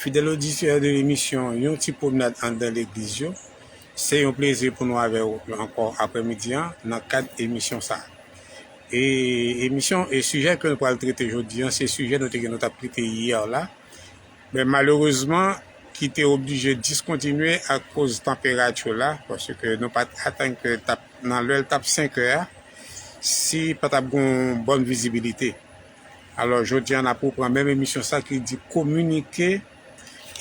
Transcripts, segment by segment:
Fidèl oditè de emisyon yon ti pwomnad anndan legliz yo, se yon plezi pou nou avè ou ankò aprè midi an nan kad emisyon sa. E emisyon e sijè ke nou pral trete jodi an se sijè nou te gen nou tap trete yè la, men malerezman ki te oblije diskontinye akoz tanperati la paske nou pat atann ke tap nan lè l tap 5 è a si pa tap gon bòn vizibilite. Alò jodi a nap repran menm emisyon sa ki di kominike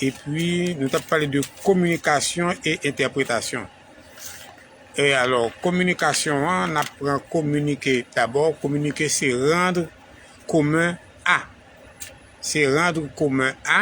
epi nou tap pale de kominikasyon e entèpretasyon. E alò kominikasyon an nap pran kominike dabò, kominike se randr komen a. Se randr komen a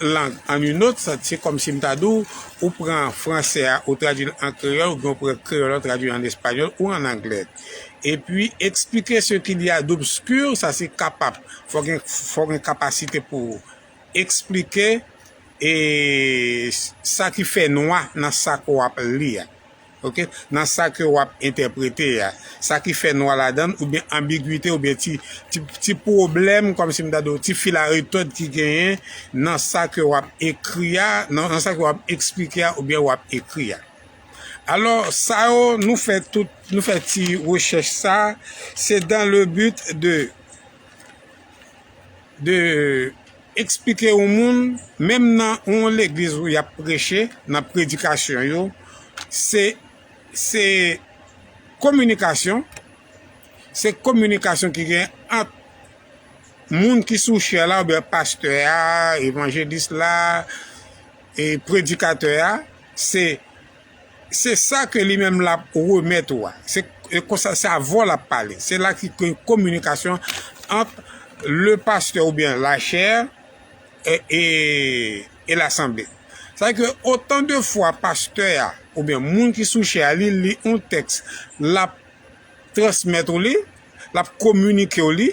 lang an you not sans, se kòmsi m ta di w, ou pran fransè a ou tradui l an kreyòl oubyen ou pran kreyòl an tradui l an espanyòl ou an anglè. Epi expliquer ce qu'il y a d'obscur, sa se kapab, fò gen, fò gen kapasite pou ou eksplike e sa ki fè nwa nan sa ke w ap li a. Ok nan sa ke wap entèprete a sa ki fè nwa ladann oubyen anbigwite oubyen ti ti pwoblèm kòmsi m ta di w ti fil a retòd ki genyen nan sa ke wap ekri a nan sa ke wap eksplike a oubyen wap ekri a alò sa yo nou fè tout nou fè ti rechèch sa se dan le but de de Eksplike yon moun, menm nan yon legliz ou yap preche, nan predikasyon yo, se, se kominikasyon, se kominikasyon ki gen ant moun ki sou chè la oubyen pastè a, evanjelis la, e predikatè a, se. Se sa ke li menm l ap remèt ou a. Se konsa, se a vwa l ap pale. Se la ki gen kominikasyon ant le pastè oubyen la chè e lasanble. Sa vle di ke otan de fwa pastè a oubyen moun ki sou chè a li li yon tèks l ap transmèt ou li, l ap kominike ou li,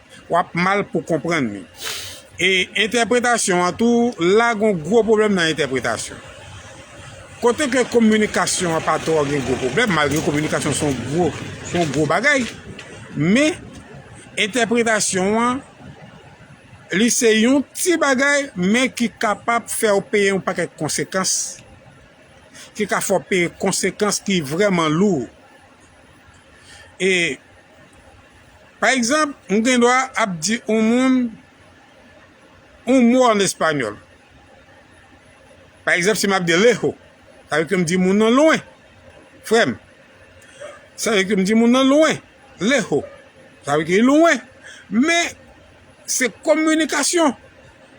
wap mal pou konprann li e entèpretasyon an tou la gon gwo pwoblèm nan entèpretasyon kote ke kominikasyon an pa twò gen gwo pwoblèm malgre kominikasyon son gwo son gwo bagay men entèpretasyon an li se yon ti bagay men ki kapab fè ou peye yon pakèt konsekans ki ka fè ou peye konsekans ki vrèman lou e Pa egzanp, m gen dwa ap di yon moun yon mo ann espanyòl. Pa egzanp, si m ap di lejo, sa vle di ke m di moun nan lwen, frè m. Sa vle di ke m di moun nan lwen, lejo. Sa vle di ke li lwen. Men, se kominikasyon.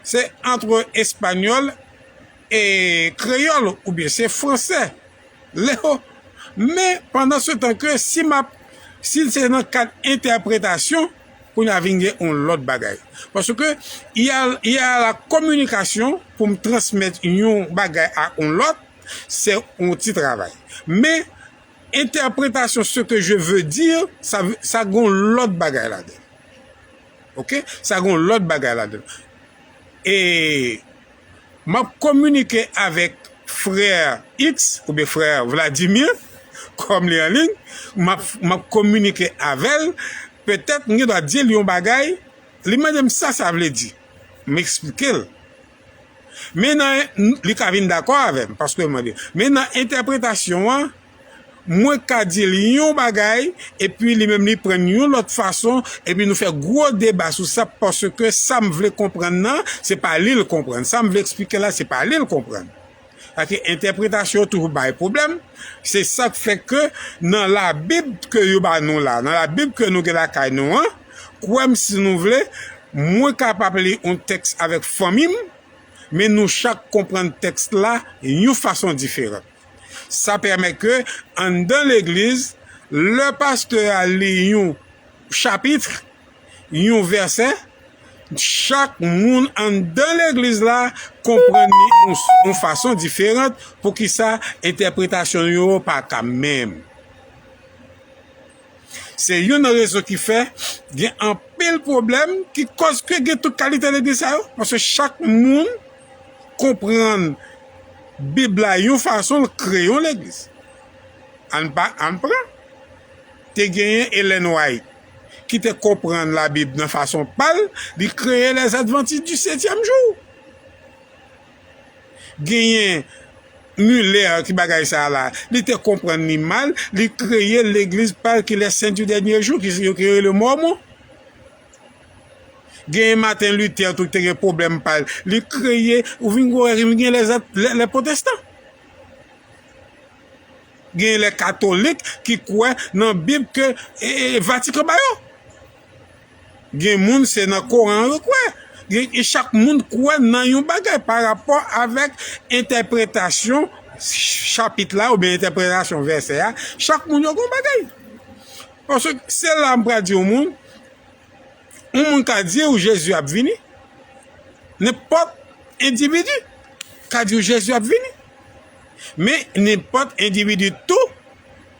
Se antre espanyòl e kreyòl oubyen se fransè Leo, Men, pandan se tan ke si m ap, si l se nan kad entèpretasyon, kounye a vin gen yon lòt bagay. Paske, y a, y a la communication, pou m transmèt yon bagay a yon lòt, se yon ti travay. Men, entèpretasyon ce que je veux dire, sa, sa gen yon lòt bagay ladan l. Ok? Sa gen yon lòt bagay ladan l. E. M ap kominike avèk frè X oubyen frè Vladimir, kòm li anliy, m ap, m ap kominike avè l, petèt m gen dwa di l yon bagay, li mande m sa sa vle di, m esplike l. Men nan, li ka vin dakò avè m, paske m mande. Men nan entèpretasyon an. mwen ka di li yon bagay epi li menm li pran yon lòt fason epi nou fè gwo deba sou sa paske sa m vle konprann nan se pa li l konprann, sa m vle eksplike la se pa li l konprann. Sa ke entèpretasyon yo toujou bay pwoblèm, se sa k fè ke nan labib ke yo ba nou la, nan labib ke nou gen lakay nou an, kwè m si nou vle, mwen kapab li yon tèks avèk fanmi m, men nou chak konprann tèks la yon fason diferan. Sa pèmèt ke anndan legliz, lè pastè a li yon chapitre, yon vèsè, chak moun anndan legliz la konprann li yon fason diferant, poukisa entèpretasyon yo pa ka menm. Se youn nan rezon ki fè gen anpil pwoblèm ki kòz ke gen tout kalite legliz sa yo, paske chak moun konprann Bib la yon fason, l kreye yon legliz. Ann pa, ann pran, te genyen Ellen White ki te konprann Labib nan fason pa l, li kreye Lèzadvantis di Setyèm Jou. Genyen Muller ki bagay sa a la. Li te konprann li mal, li kreye legliz pa l ki Les Saints du Dernier Jour ki yo ki rele Mòmon. Genyen Martin Luther tou ki te gen pwoblèm pa l, li kreye, ou vin gwo wè ki vin gen les les protestants. Genyen les catholiques ki kwè nan bib ke Vatican ba yo. Gen moun se nan koran yo kwè. E chak moun kwè nan yon bagay pa rapò avèk entèpretasyon chapit la oubyen entèpretasyon vèsè a. Chak moun yo gen yon bagay. Paske se la m pral di yon moun, yon moun ka di ou Jezi ap vini. Nenpòt endividi ka di ou Jezi ap vini. Men nenpòt endividi tou.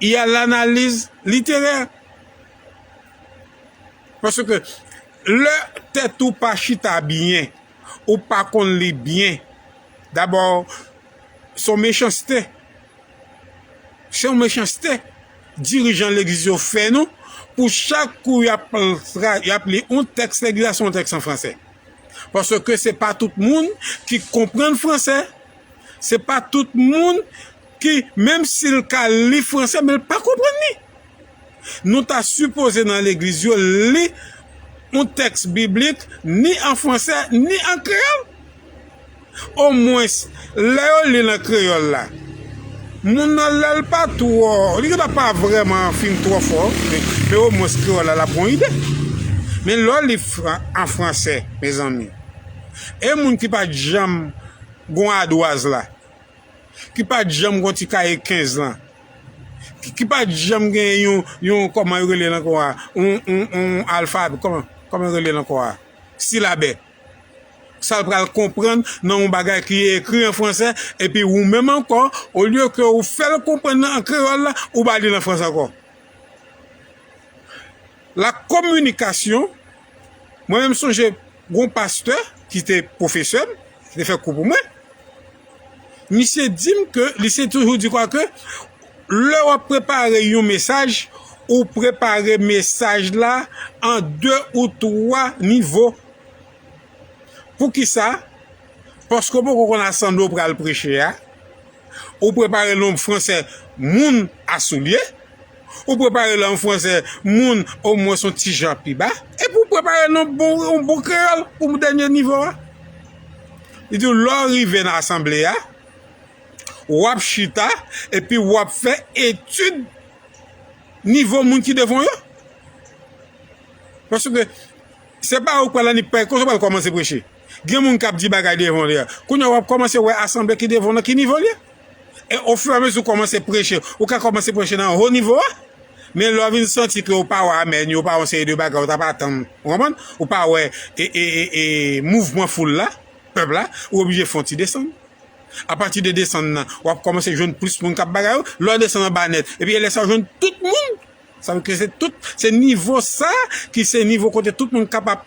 y a l'analyse littéraire. Paske lè tèt ou pa chita byen, ou pa konn li byen, dabò se yon mechanste, se yon mechanste dirijan legliz yo fè nou pou chak kou y ap li yon tèks legliz la se yon tèks an franse. Paske se pa tout moun ki konprann franse, se pa tout moun. ki menm sil ka li fransè men l pa konprann li nou ta sipoze nan legliz yo li yon tèks biblik ni an fransè ni an kreyòl o mwens lè yo li l an kreyòl la moun nan lè l pa twò li gen dwa pa vrèman fin twò fò men o mwens kreyòl la l ap gen yon ide men lè w li an fransè mezanmi e moun ki pa t janm gen yon adwaz la. ki pa janm gon ti kaye 15 lan, ki pa janm gen yon, yon kòman yo rele l ankò a, yon alfa, kòman yo rele l ankò a, silabè. Sa l pral konprann nan yon bagay ki ekri an franse, epi ou menm ankò, olye ke ou fè l konprann an kreyòl la, ou ba li l an franse ankò. La communication, mwen menm sonje gon pastè ki te pwofesè m, ki te fè kou pou mwen, misye di m ke li se toujou di kwa ke lè w ap prepare yon mesaj, ou prepare mesaj la an de ou twa nivo. Poukisa? Paske ou poko konn asan de ou pral preche a, ou prepare l nan yon fransè moun a soulye, Ou prepare l an franse, moun omwens yon ti jan pi ba, epi ou prepare l an bon kreyòl pou dènye nivo a. Li di w lè w rive nan asanble a, w ap chita epi w ap fè etid nivo moun ki devan w yo. Paske se pa ou k pral annik, se pa ou k pral kòmanse preche. Gen moun kap di bagay devan li a. Kounye a wap kòmanse wè asanble ki devan w lan ki nivo li ye. E ofiramezi ou kòmanse preche, ou ka kòmanse preche nan ho nivo a. Men lè w vin santi ke ou pa wè amèn yo, ou pa wè yon seri de bagay ou tap atann, ou konprann? Ou pa wè e mouvman foul la, pèp la, ou oblije fè yon ti desann. Apati de desann nan, wap kòmanse jwenn plis moun kap bagay yo. Lè w desann anba nèt, epi e lè sa w jwenn tout moun. Sa vle di ke se tout, se nivo sa ki se nivo kote tout moun kapab.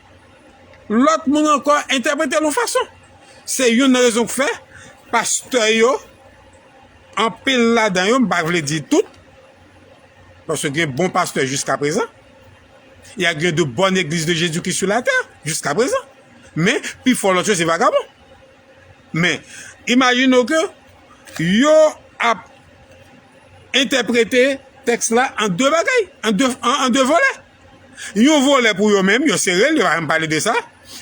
lòt moun ankò entèprete l yon fason. Se youn nan rezon k fè pastè yo, anpil ladan yo, m pa vle di tout, paske gen bon pastè jiskaprezan, y a gen de bòn egliz de Jezikri sou latè jiskaprezan, men pifò lòt yo se vagabon. Men, imajine w ke yo ap entèprete tèks la an de bagay, an de volè. Yon volè pou yo menm, yo sere l, yo pa menm pale de sa.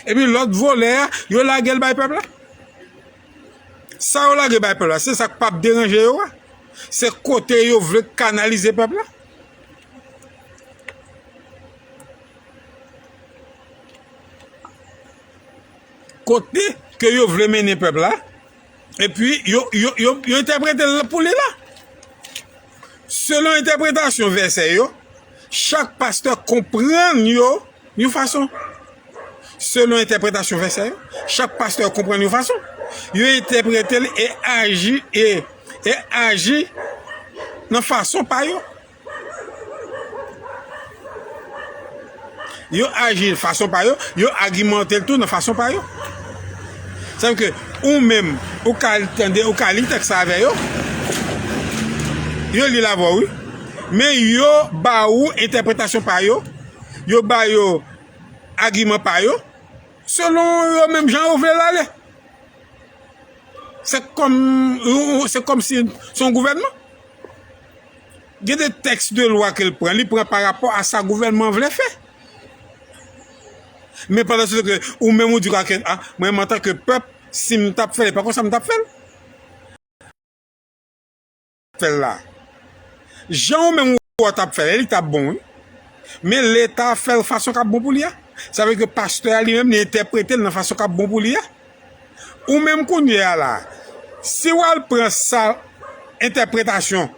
Epi lòt volè a, yo lage l bay pèp la. Sa yo lage bay pèp la, se sa k pap deranje yo a. Se kote yo vle kanalize pèp la. Kote ke yo vle mennen pèp la. Epi, yo entèprete l pou li la. Selon entèpretasyon vèsè yo, chak pastè konprann yo yon fason. Selon entèpretasyon vèsè yo, chak pastè konprann yon fason. Yo entèprete l e aji nan fason pa yo. Yo aji nan fason pa yo, yo agimante l tou nan fason pa yo. Sa vle di ke ou menm, ou ka tande, ou ka li tèks la avè yo, yo li l avè w wi, men yo ba ou entèpretasyon pa yo, yo ba yo agiman pa yo, selon yo menm jan yo vle l ale. Se kòm, se kòm si se yon gouvènman. gen de tèks de lwa ke l pran, li pran pa rapò a sa gouvènman an vle fè. Men pandan se tan ke ou menm ou di a ke a, mwen menm antan ke pèp, si m ta p fè l, e pa konsa m ta p fè l. Fè l la. Jan ou menm ou wè w ta p fè l la, li ta p bon wi. Men Leta fè l fason k ap bon pou li a. Sa vle di ke pastè a li menm li entèprete l nan fason k ap bon pou li a. Ou menm kounye a la, si w al pran sa entèpretasyon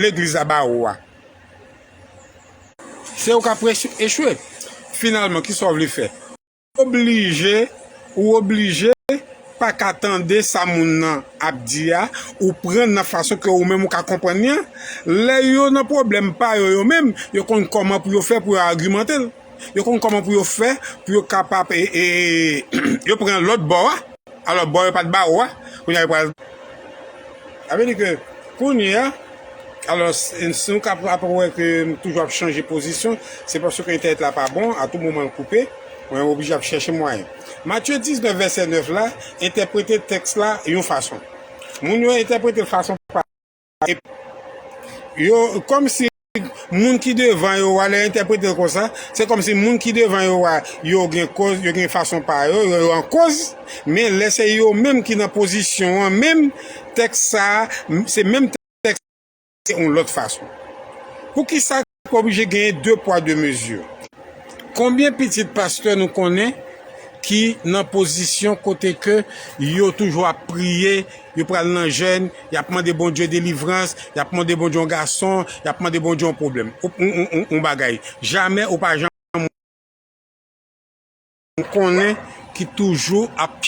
legliz la ba ou a, se ou k ap echwe. Finalman, ki sa w vle fè? Ou oblije, ou oblije pa ka tande sa moun nan ap di a, ou pran nan fason ke ou menm ou ka konprann li an. Lè yo nan pwoblèm pa yo yo menm, yo konn kòman pou yo fè pou yo agimante l. Yo konn kòman pou yo fè, pou yo kapab e, e, yo pran lòt bò a, alò bò yo pa t bawo a, kounye a yo pral. Sa vle di ke kounye a, alò si nou ka ap wè ke m toujou ap chanje pozisyon, se paske entènèt la pa bon, a tou moman l koupe, mwen oblije ap chèche mwayen. Matye 19 vèsè 9 la entèprete tèks la yon fason. Moun yo entèprete l fason pa. Yo kòm si moun ki devan yo wa lè entèpretel konsa, se kòm si moun ki devan yo wa yo gen kòz, yo gen fason pa yo, yo yo an kòz, men lè se yo menm ki nan pozisyon an menm, tèks sa a se menm tèks sa a men se yon lòt fason. Poukisa? Oblije genyen 2 pwa 2 mezi. Konbyen pitit pastè nou konnen ki nan pozisyon kote ke yo toujou ap priye, yo pral nan jèn, yap mande Bondye delivrans, yap mande Bondye yon gason, yap mande Bondye yon pwoblèm, yon bagay. Jamè ou pa janm. m konnen ki toujou ap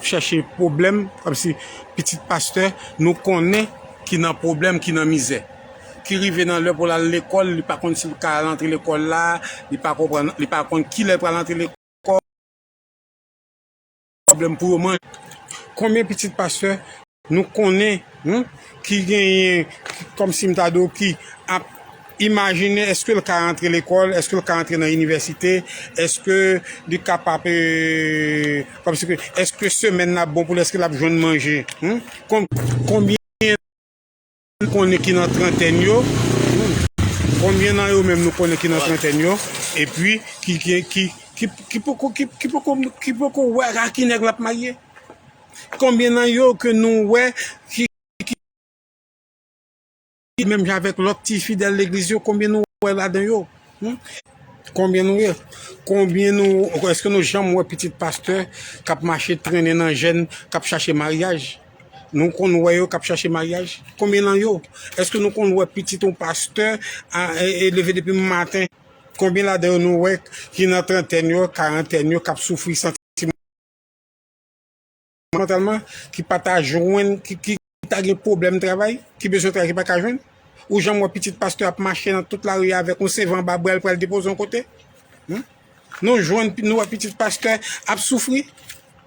chèche pwoblèm kòm si pitit pastè nou konnen ki nan pwoblèm ki nan mizè ki rive nan lè pou l al lekòl li pa konn si l ka al antre lekòl la li pa konn kilè l pral antre lekòl. pwoblèm pou yo manje. Konbyen pitit pastè nou konnen ki genyen kòmsi m ta di w ki ap imajine eske l ka antre lekòl, eske l ka antre nan inivèsite, eske li kapab kòmsi ke eske semèn nan ap bon pou l, eske l ap jwenn manje. Konbyen. Ki konnen ki nan trantèn yo? Konbyen nan yo menm nou konnen ki nan trantèn yo? Epi ki gen ki ki poko ki poko ki poko wè a ki nèg l ap marye? Konbyen nan yo ke nou wè ki ki menm jan avèk lòt ti fidèl legliz yo konbyen nou wè ladan yo? Konbyen nou wè? Konbyen nou èske nou janm wè pitit pastè k ap mache trennen nan jèn k ap chache maryaj? Nou konn wè yo kap chache maryaj? Konbyen nan yo? Eske nou konn wè pitit yon pastè a leve depi maten? Konbyen ladan yo nou wè ki nan trantèn yo, karantèn yo kap soufri santimantalman, ki pa ta jwenn, ki ta gen pwoblèm travay, ki bezwen travay ki pa ka jwenn? Ou janm wè pitit pastè ap mache nan tout lari a avèk yon CV anba bra l pral depoze yon kote? Nou jwenn, nou wè pitit pastè ap soufri?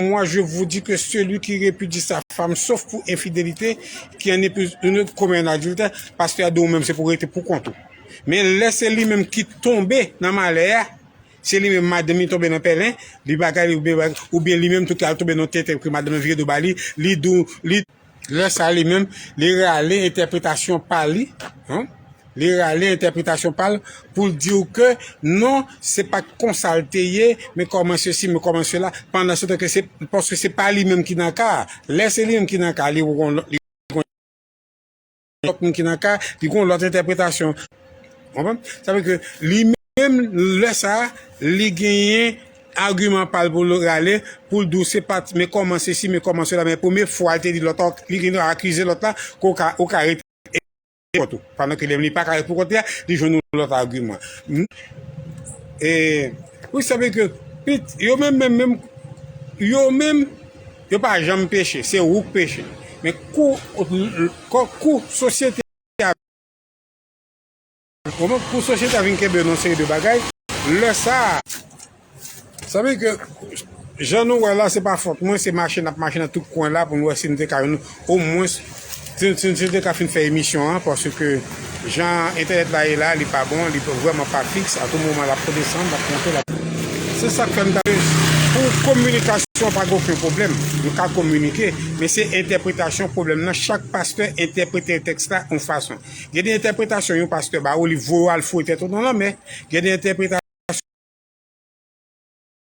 Moi je vous dis que celui qui repudie sa femme sauf pour infidélité qui en épouse une autre commet un adultère, pastè a di ou menm se pou rete pou kont ou. Men lè se li menm ki tonbe nan malè a, se li menm madanm li tonbe nan pèlen, li bagay li oubyen li menm tou ki al tonbe nan tenten ke madanm nan vire do ba li, li di ou li Lè sa li menm, li rale entèpretasyon pa li, li rale entèpretasyon pa l pou l di w ke non, se pa t konsa l te ye, men kòman sesi, men kòman sela, pandan se tan ke se, paske se pa li menm ki nan ka a. Lè se li menm ki nan ka a, li wè yon lòt, li wè yon lòt. lòt moun ki nan ka, li gon lòt entèpretasyon. Konprann? Sa vle di ke li menm lè sa a, li genyen agiman pa l pou l rale, pou l di w se pa t men kòman sesi, men kòman sela, men premye fwa l te di lòt la, li gen dwa akize lòt la ke w ka, ou ka rete pou kont ou. Pandan ke lè li pa ka rete pou kont li a, li jwenn yon lòt agiman. E, wi sa vle di ke, yo menm menm menm, yo menm Yo pa janm peche, se ou k peche. Men kou kou sosyete a kou sosyete a vin kenbe nou yon seri de bagay, lè sa a. Sa vle di ke jan nou wè la se pa fòt mwen, se mache n ap mache nan tout kwen la pou nou wè si nou te ka jwenn O mwens si te ka fin fè emisyon an paske jan entènèt la ye la li pa bon li vrèman pa fiks a tou moman lap desann lap monte lap. Se sak fè m ta vle pou kominikasyon pa gen oken pwoblèm nou ka kominike men se entèpretasyon pwoblèm nan chak pastè entèprete tèks la yon fason gen de entèpretasyon yon pastè ba ou li voye w al foure tèt ou nan lanmè gen de entèpretasyon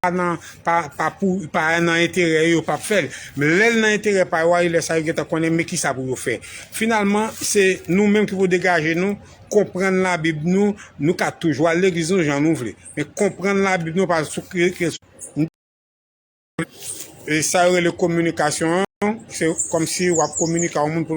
pa nan enterè yo yo pap fèl men lèl nan enterè pa yo a lè sa yo gentan konnen men kisa pou yo fè finalman se nou menm ki pou degaje nou konprann la bib nou nou ka toujou al legliz nou jan nou vle men konprann la bib nou pa sou kretyen sa yo rele kominikasyon se kòmsi wap kominik a yon moun pou